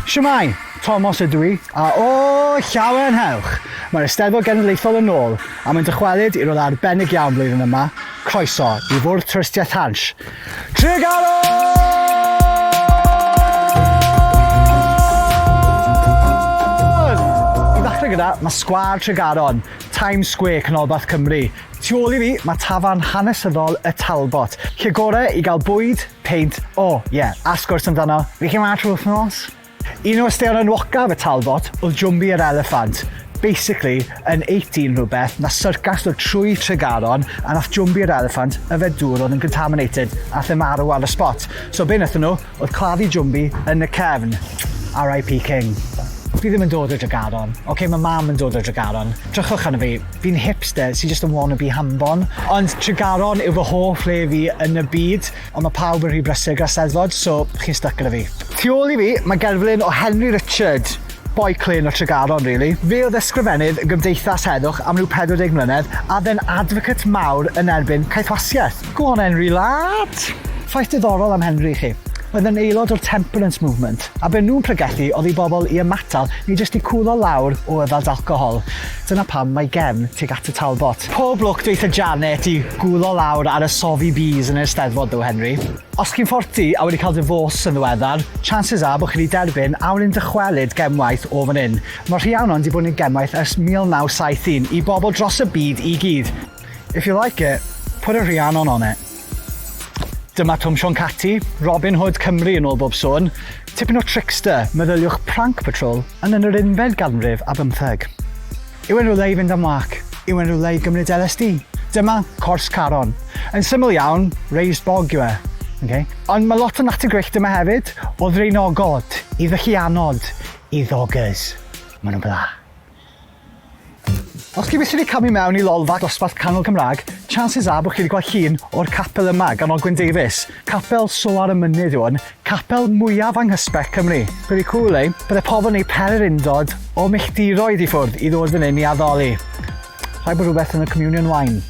Shwmae! Tomos ydw i, a o, llawen hewch! Mae'r Eisteddfod Genedlaethol yn ôl, a mae'n dychwelyd i rodd arbennig iawn flwyddyn yma, croeso i Fwrdd Twristiaeth Hansh, Tregaron! I ddechrau gyda, mae Sgwâr Tregaron, Times Square, Canolbarth Cymru. Tu ôl i fi, mae tafarn hanesyddol Y Talbot, lle gorau i gael bwyd, Peint, o, ie, a sgwrs amdano, fi chi ma trwy wthnos? Un o ystaeon enwocaf y Talbot oedd Jwmbi yr Eliffant. Basically, yn 18 rhywbeth, nath syrcas ddod trwy Tregaron a nath Jwmbi yr Eliffant yfed dŵr oedd yn contaminated a nath e marw ar y spot. So be nathon nhw oedd claddu Jwmbi yn y cefn. RIP King. Fi ddim yn dod o Dregaron. Ocê, ma' mam yn dod o Dregaron. Drychwch arno fi. Fi'n hipster sy jyst yn wannabe hanfon. Ond Tregaron yw fy hoff le fi yn y byd, ond mae pawb yn rhy brysur gyda Steddfod, so chi'n styc gyda fi. Tu ôl i fi, mae gerflun o Henry Richard, boi clên o Tregaron rili. Fe oedd ysgrifennydd y Gymdeithas Heddwch am ryw 40 mlynedd, a fe'n advocate mawr yn erbyn caethwasiaeth. Go on Henry lad! Ffaith diddorol am Henry i chi, oedd yn aelod o'r Temperance Movement, a be nhw'n pregethu oedd i bobl i ymatal neu jyst i cwlo lawr o yfed alcohol. Dyna pam mae gefn tuag at y Talbot. Pob lwc dweutha Janet i gwlo lawr ar y sofi bees yn yr Eisteddfod ddo Henry. Os chi'n fforti a wedi cael difôs yn ddiweddar, chances are bod chi wedi derbyn awyren dychwelyd gemwaith o fan hyn. Mae Rhiannon 'di bod yn gemwaith ers 1971 i bobl dros y byd i gyd. If you like it, put a Rhiannon on it. Dyma Twm Siôn Cati, Robin Hood Cymru yn ôl bob sôn. Tipyn o trickster, meddyliwch Prank Patrol, yn yn yr unfed ganrif ar bymtheg. Yw e'n rywle i fynd am wâc? Yw e'n rywle i gymryd LSD? Dyma Cors Caron. Yn syml iawn, raised bog yw e. Ok? Ond mae lot o natur gwyllt yma hefyd, o ddraenogod, i ddylluanod, i ddogers. Maen nhw'n bla. Os chi felly wedi camu i mewn i lolfa dosbarth canol Cymraeg, chances are bod chi wedi gweld llun o'r capel yma gan Ogwyn Davies. Capel Soar y Mynydd yw hwn, capel mwyaf anghysbell Cymru. Pretty cool, eh? Byddai pobl yn ei pererindod o milltiroedd i ffwrdd i ddod fan hyn i addoli. Rhaid bod rhywbeth yn y communion wine.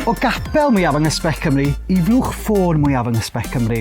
O gapel mwyaf yng Nghysbell Cymru i flwch ffôn mwyaf yng Nghysbell Cymru.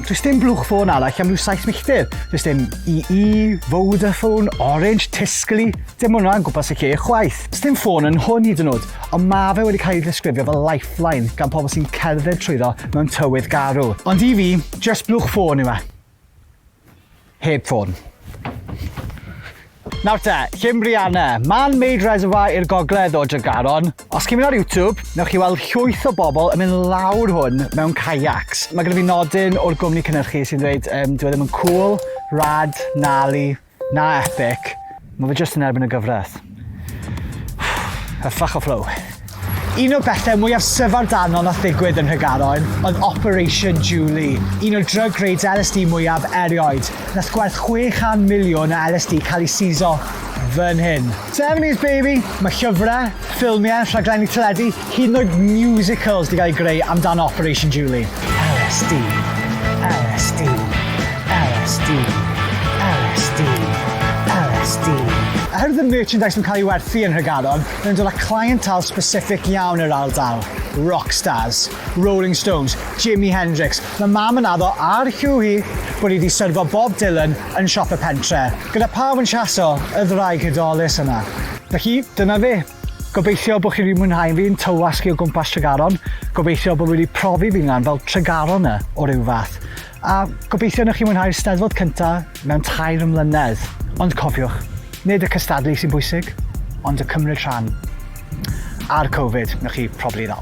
Does dim blwch ffôn arall am rhyw saith milltir. Does dim EE, Vodafone, Orange, Tiscali, dim hwnna yn gwmpas y lle chwaith. Does dim ffôn yn hwn hyd yn oed, ond mae fe wedi cael ei ddisgrifio fel lifeline gan pobl sy'n cerdded trwyddo mewn tywydd garw. Ond i fi, just blwch ffôn yw e. Heb ffôn. Nawr te, Llymbrianna. Mae'n Maid Reservoir i'r gogledd o Dregaron. Os chi'n mynd ar YouTube, newch chi weld llwyth o bobl yn mynd lawr hwn mewn kayaks. Mae gyda fi nodyn o'r gwmni cynnyrchu sy'n dweud um, dwi e ddim yn cool, rad, nali, Na epic, mae fe jyst yn erbyn y gyfraith. A ffach o flow. Un o'r bethau mwyaf syfardanol nath ddigwydd yn Nhregaron oedd Operation Julie, un o'r drug raids LSD mwyaf erioed. Nath gwerth 600 miliwn o LSD cael ei siso fan hyn. 70s baby! Mae llyfrau, ffilmiau, rhaglenni teledu, Hyd yn oed musicals 'di gael greu amdano Operation Julie. LSD. LSD. LSD. LSD. LSD. Oherwydd y merchandise yn cael ei werthu yn Nhregaron, maen nhw'n dod â clientele specific iawn i'r ardal. Rock stars, Rolling Stones, Jimi Hendrix. Mae mam yn addo ar Hugh hi bod hi wedi syrfo Bob Dylan yn siop y pentre, gyda pawb yn siaso y ddraig hudolus yna. Felly, dyna fe. Gobeithio bod chi wedi mwynhau fi'n tywasgu o gwmpas Tregaron, gobeithio bod wedi profi fi nghan fel Tregaron e o ryw fath, a gobeithio newch chi mwynhau'r Steddfod cynta mewn tair mlynedd. Ond cofiwch, nid y cystadlu sy'n bwysig, ond y cymryd rhan. A'r Covid, newch chi probably ddal.